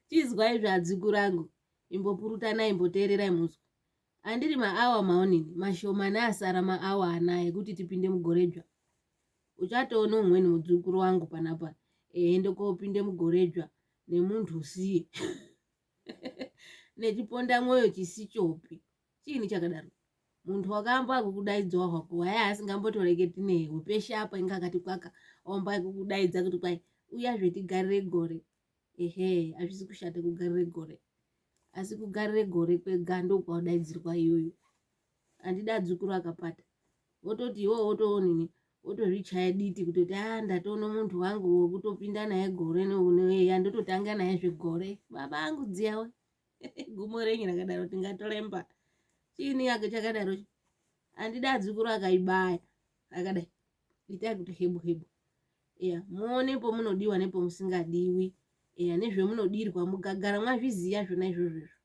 Chinzwai izvi adzukuru angu, imbopurutanai imboteererai munzwe. Andiri maawa maonini mashomani asara maawa anaya ekuti tipinde mugore dzva. Uchatoona umweni mudzukuru wangu panapa eende kopinde mugore dzva nemunhu usiye nechiponda mwoyo chisichopi. Chiini chakadaro? Munhu wakaamba kukudaidzawo hwako waya asingambotoreketi newe peshe apa inga akati kwaka omba kukudaidza kuti kwai uyazve tigarire gore ehe hazvisi kushata kugarire gore asi kugarire gore kwega ndokwaudaidzirwa iyoyo handida adzukuru akapata wototi iwowo wotoonini wotozvichaya diti kutoti a ah, ndatoona munhu wangu wokutopinda naye gore neunoeya ndototanga naye zvegore baba angu dziyawe gumo renyu rakadaro tingatolemba chiini yake chakadaro handida adzukuru akaibaya akadai itai kuti hebu hebu eya muone pomunodiwa nepomusingadiwi eya nezvemunodirwa mugagara mwazviziva zvona izvozvo izvo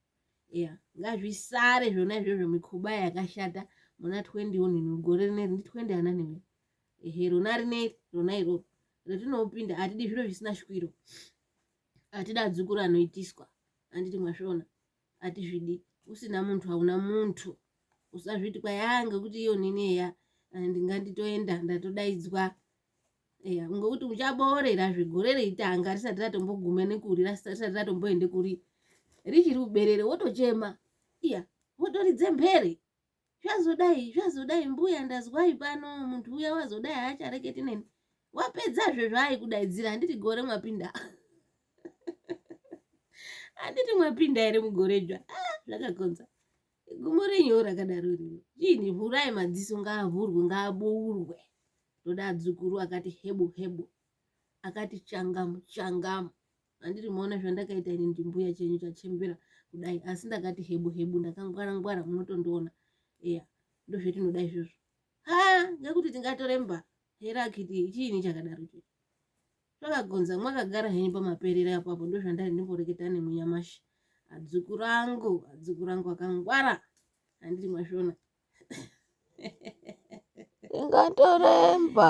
eya ngazvisare zvona izvozvo mikhuba yakashata muna 21 gore rineri ndi 20 ana nemi ehe rona rineri rona iroro ratinopinda atidi zviro zvisina shwiro atida dzukuru anoitiswa anditi mwasvona atizvidi usina muntu hauna muntu usazviti kwayaa ngekuti iyo nini eya eh, ndinganditoenda ndatodaidzwa eya ngokuti uchaboorera zvegore reitanga risati ratombogume nekuri risati ratomboende kuri richiri uberere wotochema iya wotoridze mbere zvazodai zvazodai mbuya ndazwai pano munhu uya wazodai haachareketi neni wapedzazve zvaaikudaidzira handiti gore mwapinda handiti mwapinda here mugore dzva ah, zvakakonza gumo renyu rakadaro rino chiini vhurai madziso ngaavhurwe ngaabourwe ndoda adzukuru akati hebo hebo akati changamu changamu andiri maona zvandakaita ini ndimbuya chenyu chachembera kudai asi ndakati hebu hebu ndakangwara ngwara munotondiona eya ndozvetinoda izvozvo ha ngekuti tingatore mba here akiti chiini chakadaro chii zvakagonza mwakagara henyu pamaperera apapo ndozvandari ndimboreketa nemunyamashi adzuku rangu adzuku rangu akangwara andiri mashona ingatoremba